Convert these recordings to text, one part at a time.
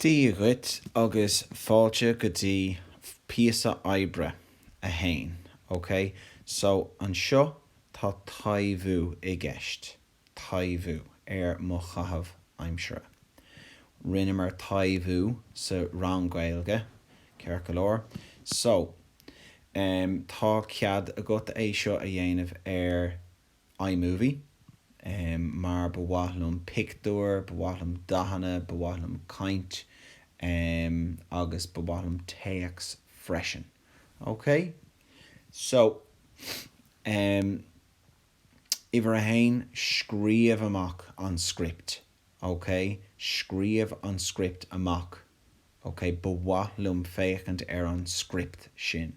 Dia dhuit agus fáilte go dtí píosa oibre 1. OK, so anseo tá taibhiú i gceist, taibhiú ar mo chaitheamh aimsire. Rinneamar taibhiú sa rang Gaeilge, ceart go leor. So, em, tá cead agat é seo a dhéanamh ar iMovie, mar ba mhaith liom pictiúir, ba mhaith liom dathanna, ba mhaith liom caint, agus ba mhaith liom téacs freisin. OK? So, uimhir a haon, scríobh amach an script. OK? Scríobh an script amach. OK? Ba mhaith liom féachaint ar an script sin.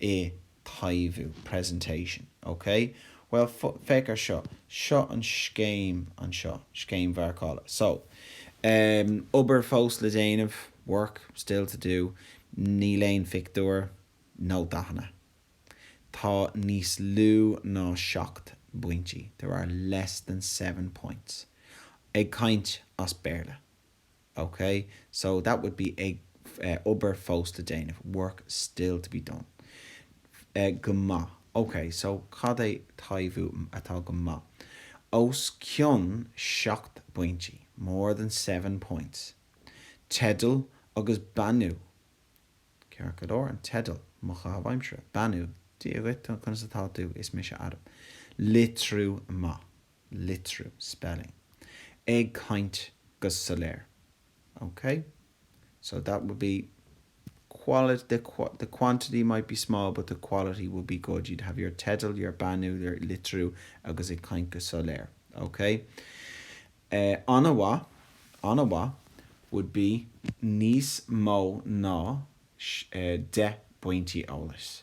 i taibhiú, presentation, OK? Bhuel, féach ar seo. Seo an scéim anseo, scéim mharcála. So, em, obair fós le déanamh, work still to do. Níl aon phictiúr, nó dathanna. Tá níos lú ná seacht bpointí, there are less than seven points. Ag caint as Béarla. OK, so that would be ag eh obair fós le déanamh work still to be done eh go maith. OK, so cad é taibhiú atá go maith? os cionn seacht bpointí, more than seven points. Teideal agus beannú Ceart go leor, an teideal, mo chaitheamh aimsire. Beannú, Dia dhuit, conas atá tú, is mise Adam. Litriú maith. litriú, spelling, ag caint go soiléir, OK? So that would be quality, the the quantity might be small but the quality will be good, you'd have your teideal, your beannú, your litriú agus ag caint go soiléir, OK? Eh an-mhaith, an-mhaith would be níos mó ná deich bpointí eolais.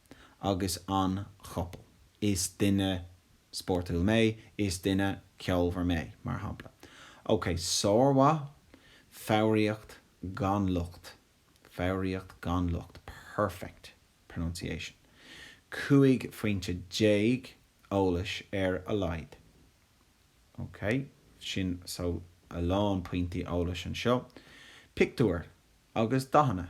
agus an chopail. Is duine spórtúil mé, is duine ceolmhar mé, mar shampla. Ok, sármhaith, foghraíocht gan locht, foghraíocht gan locht, perfect pronunciation. 15 phointe eolais ar a laghad. Ok, sin so a lán pointí eolais anseo. Pictiúir agus dathanna.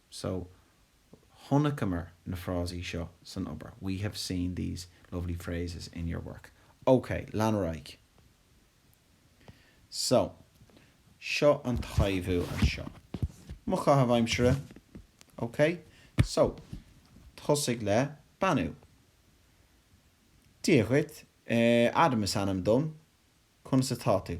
So, chonaiceamar na frásaí seo san obair, we have seen these lovely phrases in your work. Ok, lean ar aghaidh. So, seo an taibhiú anseo. Mo chaitheamh aimsire. Ok? So, tosaigh le beannú. Dia dhuit. Adam is ainm dom. Conas atá tú?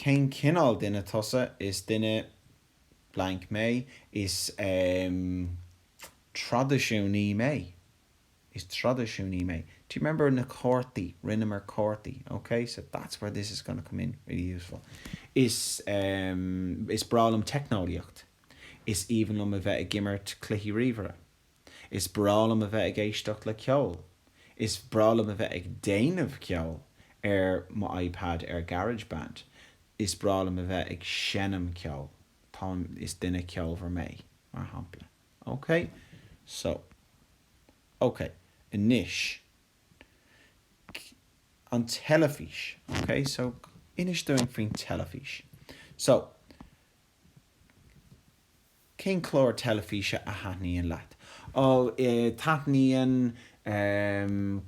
Cén cineál duine tusa? Is duine blank mé. Is traidisiúnaí mé. Is traidisiúnaí mé. Do you remember na cártaí? Rinneamar cártaí. Ok, so that's where this is going to come in really useful. Is, Is breá liom teicneolaíocht. Is aoibhinn liom a bheith ag imirt cluichí ríomhaire. Is breá liom a bheith ag éisteacht le ceol. Is breá liom a bheith ag déanamh ceol ar mo iPad ar Garage Band. Is breá liom a bheith ag seinm ceol. Táim, is duine ceolmhar mé, mar shampla. OK? So. OK. Anois. An teilifís. OK? So, inis dúinn faoin teilifís. So. Cén chlár teilifíse a thaitníonn leat? Ó, taitníonn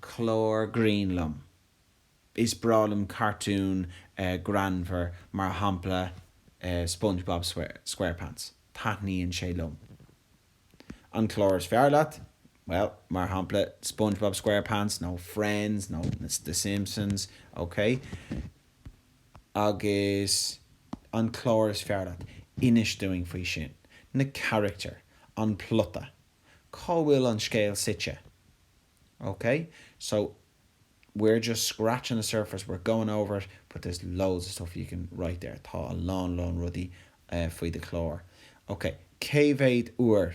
chlár grinn liom. Is breá liom cartún greannmhar, mar shampla Spongebob Squarepants. Taitníonn sé liom. An chlár is fearr leat? Bhuel, mar shampla Spongebob Squarepants nó Friends nó The Simpsons. Ócé. agus an chlár is fearr leat, inis dúinn faoi sin, na carachtair, an plota, cá bhfuil an scéal suite. Ok? So, we're just scratching the surface, we're going over it, but there's loads of stuff you can write there, tá a lán lán rudaí faoi do chlár. Ok, cé mhéad uair?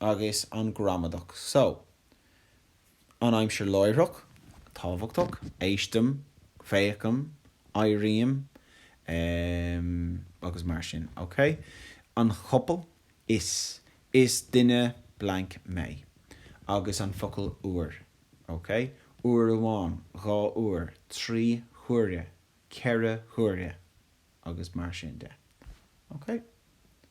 agus an gramadach so. An aimsir láithreach, tábhachtach, éistim, féachaim, éirím, agus mar sin, ok? An chopail, is duine blank mé. Agus an focal uair, ok? Uair amháin, dhá uair, trí huaire, ceithre huaire, agus mar sin de. Ok?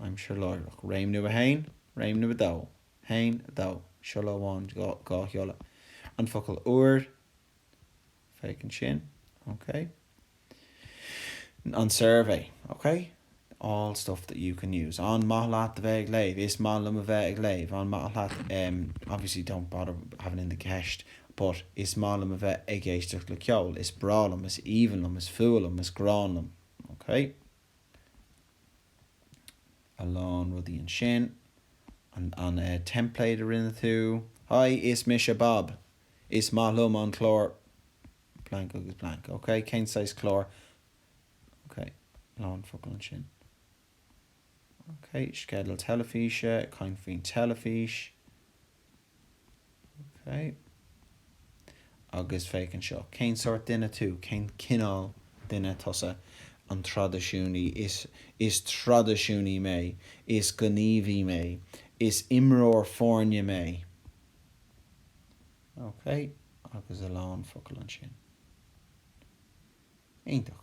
aimsir láithreach, réimniú 1, réimniú 2, haon, a dó, siolla amháin, dhá shiolla, an focal uair, féach ansin, OK, an suirbhé, OK, all stuff that you can use, an maith leat a bheith ag léamh? is maith liom a bheith ag léamh, an maith leat, obviously don't bother having in the ceist, but is maith liom a bheith ag éisteacht le ceol, is breá liom, is aoibhinn liom, is fuath liom, is gráin liom, OK. a lán rudaí ansin. An template a rinne tú? Haigh, is mise Bob. Is maith liom an clár blank agus blank. Ok, cén saghas cláir? Ok, lán focal ansin. Ok, sceideal teilifíse, caint faoin teilifís. OK. Agus féach anseo. Cén sórt duine tú? Cén cineál duine tusa? An traidisiúnaí? Is traidisiúnaí mé. Is gníomhaí mé. Is imreoir foirne mé. OK. Agus a lán focal ansin. Iontach.